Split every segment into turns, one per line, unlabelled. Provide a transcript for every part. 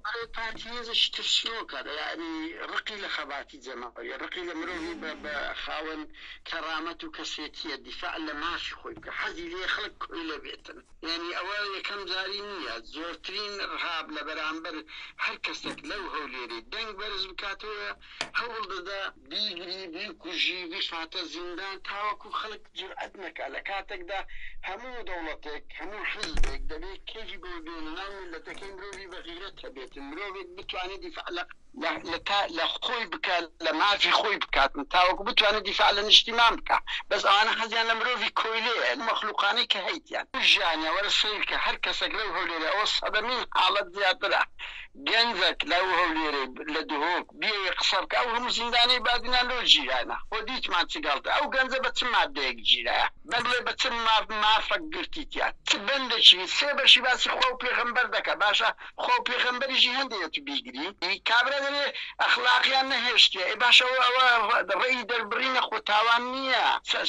ئەرێ پارتی هێزێکی ترسنۆکە دە یاعنی ڕقی لە خەباتی جەماوەریە ڕقی لە مرۆڤی بە بە خاوەن کەڕامەت و کەسێتیە دیفاع لە مافی خۆی بکە حەزی لێ خەڵک کۆیلە بێتن یانی ئەوە یەکەم جاری نییە زۆرترین ڕهاب لە بەرامبەر هەر کەسێک لەو هەولێرەی دەنگ بەرز بکاتەوە هەوڵ دەدا بیگری بیکوژی بیخاتە زیندان تاوەکو خەڵک جورئەت نەکا لە کاتەکدا هەموو دەوڵەتێک هەموو حیزبێک دەبێ کەیفی بەوە بێ لە ناو میللەتەکەی مرۆڤی بە غیرەت هەبێتن مرۆڤێک بتوانێ دیفاع لە لە تا لە خۆی بکا لە مافی خۆی بکاتن تاوەکو بتوانێ دیفاع لە نیشتیمان بکا بەس ئەوانە حەزیان لە مرۆڤی کۆیلەیە مەخلوقانەی کە هەیتیان ژیانیان وەرە سەیرکە هەر کەسەک لەو هەولێرە ئەوە سەدەمین حاڵەت زیاترە گەنجەک لە ئەو هەولێرەی لە دهۆک بیەوێ قسە بکا ئەو هەموو زیندانەی بادینان لۆ گیرانە خۆ دیتمان چ گەڵتە ئەو گەنجە بە چ مادەیەک گیرایە بەگلێ بە چ مافەک گرتیتیە چ بەندەکی سێ بەشی باسی خوا و پێغەمبەر دەکا باشە خوا و پێغەمبەریشی هەندێ ئەتو بیگری ئی کابرا دەلێ ئەخلاقیان نەهێشتیە ئێ باشە ئەوە ئەوە ڕێی دەربڕینە خۆ تاوان نیە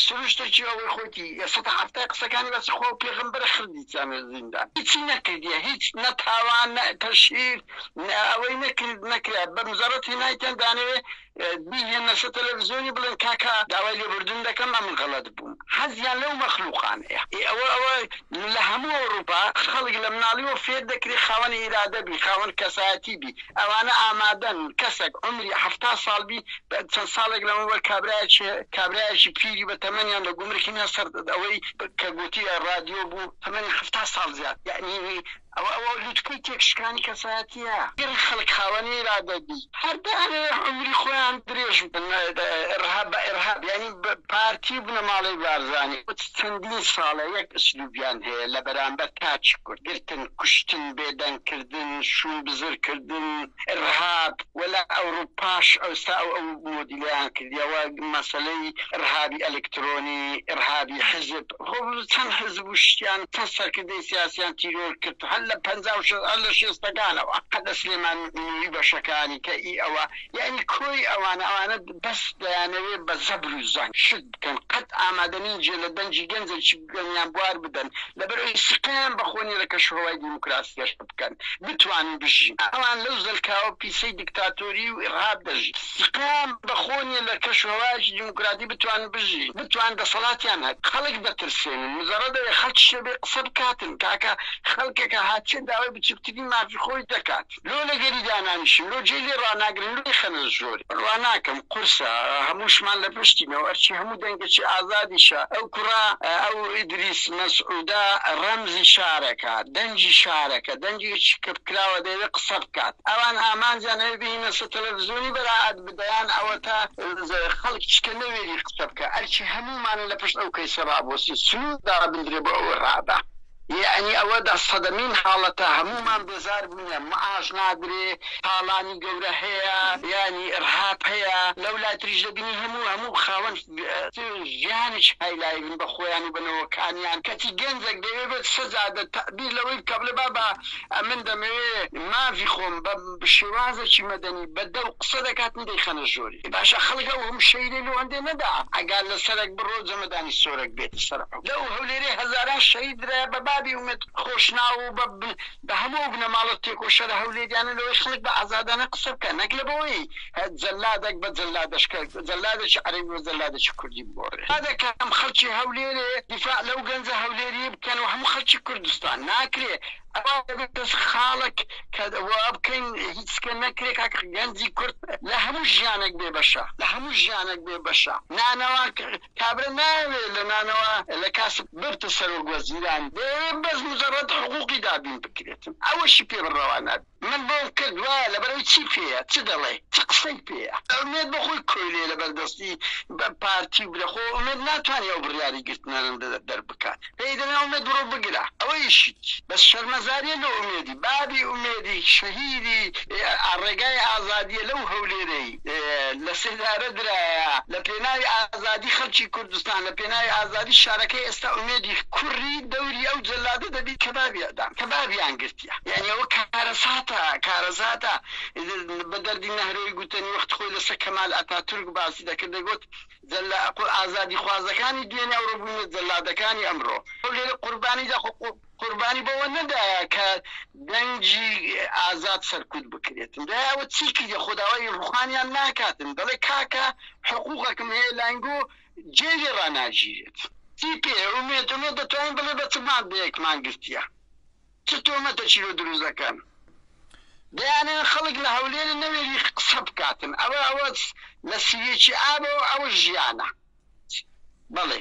سروشتەکی ئەوەی خۆتی سەتا حەفتا قسەکانی بەس خوا و پێغەمبەرە خڕ جانە زیندان هیچی نەکردیە هیچ نە تاوان نە تەشهیر نە ئەوەی نەکرد نەکرا بە مزەڕەت هێنایتیان دانەوێ بیهێنە سە تەلەڤزیۆنی بڵێن کاکا داوای لێبوردن دەکەم ئەمن غەڵەت بووم حەزیان لەو مەخلوقانەیە ئێ ئەوە ئەوە لە هەموو ئەوڕوپا خەڵک لە مناڵیوە فێر دەکرێ خاوەن ئیرادە بی خاوەن کەسایەتی بی ئەوانە ئامادەن کەسەک عومری حەفتا ساڵ بی چەند ساڵێک لەمەوبەر کابرایەکی کابرایەکی پیری بە تەمەنیان لە گومرکی نا سەر ئەوەی کە گوتی رادیۆ بوو تەمەنی حەفتا ساڵ زیاد یعنی ئەوە ئەوە لوتکەی تێکشکانی کەسایەتیە گەر خەڵک خاوەن ئیرادە بی هەر دەیانەوێ عومری خۆیان درێژ بکەن ئرهاب بە ئرهاب یعنی پارتی بنەماڵەی بارزانی چەندین ساڵە یەک ئسلوبیان هەیە لە بەرامبەر تاکی کورد گرتن کوشتن بێدەنگ کردن کردن، شوون بزر کردن، ئرهاب، وە لە ئەوروپاش ئەوستا ئەو ئەو مۆدیلەیان کردیە وە مەسەلەی ئرهابی ئەلکترۆنی، ئرهابی حزب، خۆ چەن حزب و شتیان چەن سەرکردەی سیاسیان تیرۆر کرد هەر لە پەنجا و شەست هەر لە شێستەکانەوە هەر لە سلێمان نوری بەشەکانی کە ئی ئەوە یانی کۆی ئەوانە ئەوانە بەس دەیانەوێ بە زەبر و زەنگ شت بکەن قەت ئامادە نین جێ لە دەنگی گەنجێکی گوێنیان بوار بدەن، لەبەرئەوەی سوقەیان بەخۆنی لە کەشوهەوای دیموکراسی هێشت بکەن، بتوانن بژین. ئەوان لەو زەلکاوە پیسەی دیکتاتۆری و ئیرهاب دەژین. سوقەیان بەخۆنی لە کەشوهەوایەکی دیموکراتی بتوانن بژین، بتوانن دەسەڵاتیان هەبێت. خەڵک دەترسێنن. مجەڕەد ئەوەی خەڵکی شتێ بێ قسە بکاتن، تاکە خەڵکێکە هاتیە داوای بچوکترین مافی خۆی دەکات. لۆ لەگەری دانانیشم لۆ جێ لێ ڕاناگرن لۆ ئیخەنە ژۆرێ ڕاناکەم قورسە هەمووشمان لە پشتینەو ئەرچی هەموو دەنگەچی ئازادیشە ئەو کوڕە ئەو ئیدریس مەسعودە ڕەمزی شارەکە دەنگی شارەکە دەنگێکی کپکراوە دەیەوێ قسە بکات ئەوان ئامانجیان ئەوێ بهینە سە تەلەفزیۆنی بەرائەت بدەیان ئەوەتا خەڵک چکە نەوێری قسە بکا ئەرچی هەموومانە لە پشت ئەو کەیسە ڕابۆسین سنور دابندرێ بۆ ئەوە ڕابە. یەعنی ئەوە دە سەدەمین حاڵەتە هەموومان بێزار بووینە معاش نادرێ تاڵانی گەورە هەیە یانی ئڕهاپ هەیە لەو لای تریش دەبینی هەموو هەموو خاوەن ژیانێکی هایلایڤن بە خۆیان و بە نەوەکانیان کەچی گەنجەک دەیەوێ بێت سەجا دە تەعبیر لەوەی بکا بڵێ بابا ئەمن دەمەوێ ماڤی خۆم بە شێوازەکی مەدەنی بە دەو قسە دەکاتن دەیخەنە ژۆری باشە خەڵک ئەو هەموو شەیرەی لۆ هەندێ نەدا ئەگا لە سەرەک بڕۆ جەمەدانی سۆرەک بێتە سەر لەو هەولێرەی هەزاران شەهید درایە بە بابی ئومێد خۆشناو و بە بە هەموو ئەو بنەماڵە تێکۆشەرە هەولێریانە لەوەی خەڵک بە ئازادانە قسە بکا نەک لەبەوەی جەلادەک بە جەلادەش کە جەلادێکی عەرەبی بە جەلادێکی کوردی بگۆڕێ با دەکەم خەڵکی هەولێرێ دیفاع لەو گەنجە هەولێری بکەن و هەموو خەڵکی کوردستان ناکرێ ئەوا دەبێت کەس خاڵک کە وا بکەین هیچ کە نەکرێ کاک گەنجی کورد لە هەموو ژیانێک بێ بەشە لە هەموو ژیانێک بێ بەشە نانەوا کابرا نایەوێ لە نانەوە لە کاسب ببتە سەرۆک وەزیران دەیەوێ بەس مجرد حقوقی دابین بکرێت ئەوەشی پێ بڕەوا نابێ من بۆم کرد وایە لەبەرەوەی چی پێیە چ دەڵێ چ قسەی پێیە ئومێد بەخۆی کۆیلەیە لەبەر دەستی پارتی و برا خۆ ئومێد ناتوانێ ئەو بڕیاری گرتنانە دەربکات. پێی دەلێن ئومێد بڕۆ بگرە ئەوەیشی بەس شەرمەزاریە لۆ ئومێدی بابی ئومێدی شەهیدی ئا ڕێگای ئازادیە لەو هەولێرەی لە سێدارە درایە لە پێناوی ئازادی خەلکی کوردستان لە پێناوی ئازادی شارەکەی ئێستا ئومێدی کوری دەوری ئەو جەلادە دەبی کەبابی ئەدام کەبابیان گرتیە یانی ئەوە کارەساتە کارەزاتە بە دەردی نەهرۆی گوتەنی وەخت خۆی لەسە کەمال ئەتاتورک باسی دەکرد دەگوت جەللە ئەقڵ ئازادیخوازەکانی دوێنێ ئەوڕۆ بوونە جەللادەکانی ئەمڕۆ ئەو لێرە قوربانی دا خۆ قوربانی بەوە نەدایە کە دەنگی ئازاد سەرکوت بکرێتن دا ئەوە چی کردە خۆ داوای ڕوخانیان ناکاتن دەڵێ کاکە حقوقەکم هەیە لاینگۆ جێ لێ ڕاناگیرێت چی پێ ئومێد ئومێد دەتوانین بڵێ بە چ مادەیەکمان گرتیە. چ تۆمەتە چیرۆ دروست دەکەن دەیانەوێت خەڵک لە هەولێرە نەوێری قسە بکاتن ئەوە ئەوە لە سیوێکی ئابەوە ئەوە ژیانە بەڵێ